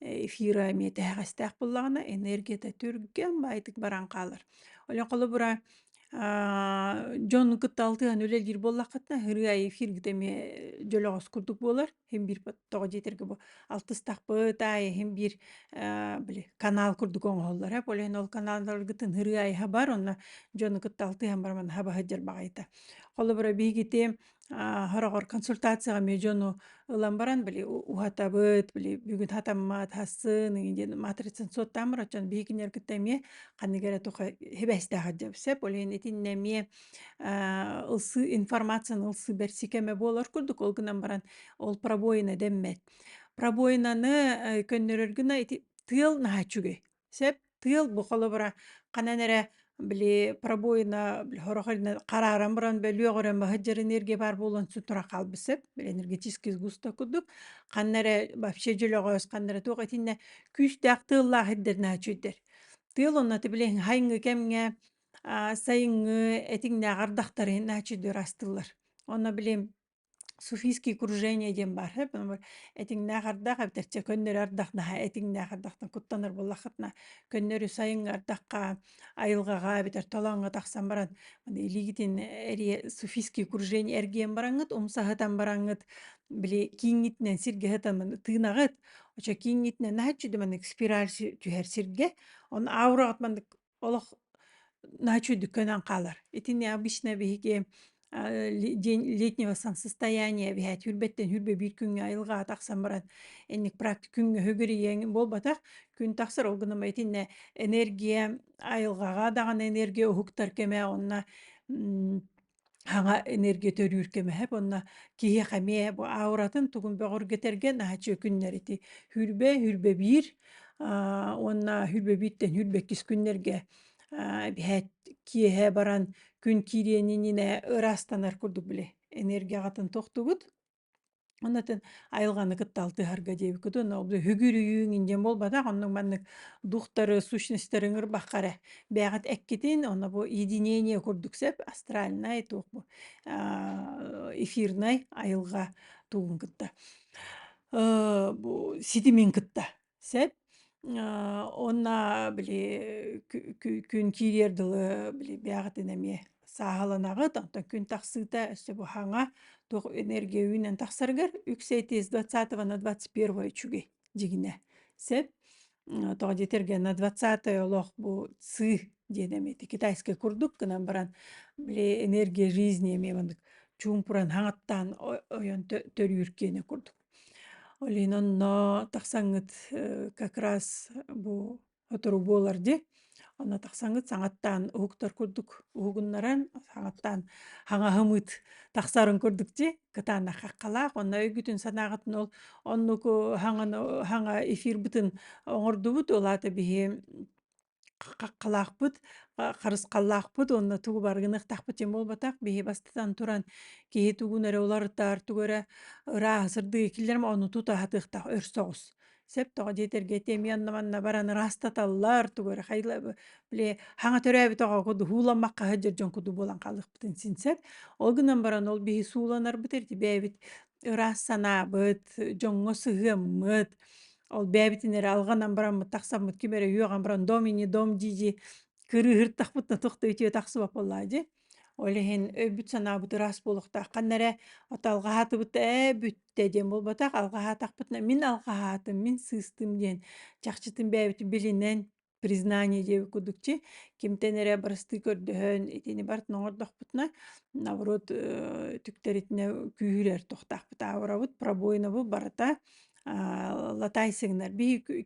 эфира эмиэ тэһэҕэстээх буллаҕына энергията түргэн баайтык баран хаалар. Олен холобура дьон кытта алтыһан үлэлиир буоллаххытына ырыа эфиргит эмиэ дьолоҕос курдук буолар иһин биир тоҕо диэтэргэ бу алтыстахпыт аайы иһин биир били канал курдук оҥоһуллар ээ полиһин ол каналларгытын ырыа айаһа бар онно дьону кытта алтыһан баран хаба сылдьар баҕайыта холобура биһигити Хороҕор консультацияҕа эмиэ дьону ылан баран били уһатабыт, били бүгүн хатаммат, хассын ии диэн матрицаны суоттаан барар дьон биһигиннэр кытта эмиэ ханнык эрэ туха сибээстээх дьэ сөп. Ол иһин итиннэ эмиэ ылсыы информацияны ылсыы бэрсии кэмэ буолар курдук. Ол гынан баран ол пробоина дэммэт. Пробоинаны көннөрөр гына ити тыал наһаа үчүгэй. Сэп тыал бу холобура ханан эрэ били пробоина били сорох илинэ харааран баран бөлүөх өрө маһыт дьэр энергия баар буолан сутура хаалбыт сэп били энергетический сгусток курдук ханна эрэ вообще дьөлөҕөөс ханна эрэ туох итиннэ күүстээх тыаллаах ирдэринэ чүйдэр тыал онно ты били хайыҥҥы кэмҥэ а сайыҥҥы этиҥнээх ардахтары наачыйдыыр астыллар онно били суфийские кружения диэн баар этиҥнээх ардах эбитерчэ көннөрү ардахнаха этиҥнээх ардахтан куттанар буллаххытына көннөрү сайыҥҥы ардахха айылҕаҕа эбитэр толооҥҥо тахсан баран илиигитин эрийэ суфийские кружения эргийэн бараҥҥыт умсаһытан бараҥҥыт били кииҥҥитинэн сиргэ сытамын тыынаҕыт очо кииҥҥитинэн наһаччы дыманык спираль түһэр сиргэ он аураҕыт маннык Олох ночью дükкөнөн қалар. Итини обычно биһиги день летнего состояния биһэ түрбэттен хүрбэ биир күҥҥэ айылгаа тахсан баран инник практик күҥҥө хөгүрүйэҥ буолбатах күн тахсар ол гынан итиннэ энергия айылгаҕа даҕаны энергия уһуктар кэмэ онно хаҥа энергия төрүүр көмөһө буонна киһиэхэ эмиэ бу ауратын тугун бөҕөргөтэргэн аһачы күннэр ити хүрбэ хүрбэ биир уонна хүрбэ бииртэн хүрбэ иккис күннэргэ биһээт киэһэ баран күн киириэнинэ ыраастанар курдук били энергияҕытын тохтугут Ону атын айылганы кытта алтыһарга диэби кытын ол үгүрүйүүң индиэн буолбатах оннук маннык духтары сущностьтарын ырбахха эрэ бэйэҕит эккитин оно бу единение курдук сөп астральнай туох бу аа эфирнай айылга тугун кытта бу ситимин кытта Сэп уонна били күн киириэр дылы били бэйэҕитин эмиэ сааһыланаҕыт, онтон күн тахсыыта өссө бу хаҥа туох энергия үүнэн тахсарыгар үксэй тиэс двадцатого на двадцать первое үчүгэй дьиҥинэ. Сэп тоҕо диэтэргэ на двадцатое олох бу сы диэн эмиэ ити китайскай курдук гынан баран били энергия жизни эмиэ маннык чуумпуран хаҥаттаан ойон төрүүр киэнэ курдук. Олин онно тахсаҥҥыт э, как раз бу сотору буолар ди онно тахсаҥҥыт саҥаттаан уһуктар курдук уһугуннаран саҥаттаан хаҥаһымыт тахсарын курдук ди кытаанах хаххалаах онно өйгүтүн санааҕытын ол оннуку хаҥаны хаҥа эфир бытын оҥордубут ол аата биһи хаххалаахпыт, харысхаллаахпыт уонна тугу барыгыныахтаахпыт дьэ буолбатах биһи бастатан туран киһи тугун эрэ уларытаар, тугу эрэ ырааһасырдыы киллэрим ону тута аһатыахтаах өр соҕус. Сөп тоҕо дьиэ тэргэ тиэмиэ онно манна баран ыраастаталлар тугу эрэ хайла били хаҥа төрөөбүт оҕоҕо дууһууламмакка сылдьар дьон курдук буолан хаалыахпытын син сөп. Ол гынан баран ол биһи сууланарбыт эрэ ити бэйэбит ыраас санаабыт, дьоҥҥо сыһыаммыт Ол бэйэбитин эрэ алҕанан бараммыт тахсаммыт ким эрэ үөҕэн баран дом ини дом дии-дии кырыыһыртахпытына туох да үтүө тахсыбат буоллаҕа дии. Ол иһин өйбүт-санаабыт ыраас буолуохтаах. Ханна эрэ ото алҕаһаатыбыт ээ бүттэ диэн буолбатах, алҕаһаатахпытына мин алҕаһаатым, мин сыыстым диэн чахчытын бэйэбитин билинэн признание диэбит курдук чи кимтэн эрэ барыстыы көрдөһөн итини барт ноҥордохпутуна наоборот э, түктэритинэ күүһүрэр тохтаахпыт аавырабыт пробойнабы барыта латай сигнал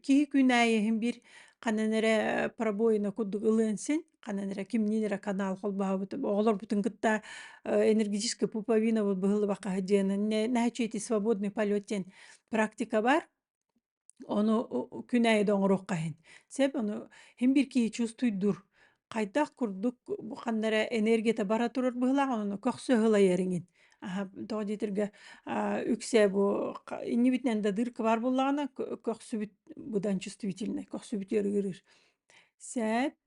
киһи күнээйэһин бир ханан эрэ пробойна курдук ылыан син ханан эрэ кимнин эрэ канал холбаабыт оҕолорбутун кытта энергетическая пуповина быһылыбаха диэнэн нәһачети свободный полет диэн практика бар Ону күн аайы да оҥоруохха иһин. Сөп, ону иһин бир киһи чувствуйдур. Хайдах курдук бу ханна эрэ энергията бара турар быһыылаах, ону көхсө ылайар иҥин. Аһа, тоҕо диэтиргэ үксэ бу иннибитинэн да дырка баар буоллаҕына, көхсүбүт быдан чувствительнай, көхсүбүт ырыгырыыр. Сөп.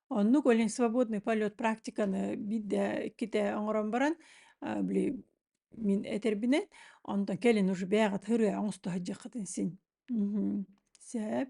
Оннук олень свободный полет практиканы биирдэ иккитэ оҥорон баран, а, били мин этэрбинэн, онтон кэлин уже бэйэҕит ырыа оҥосто сылдьыаххытын син. Мгм. Сөп.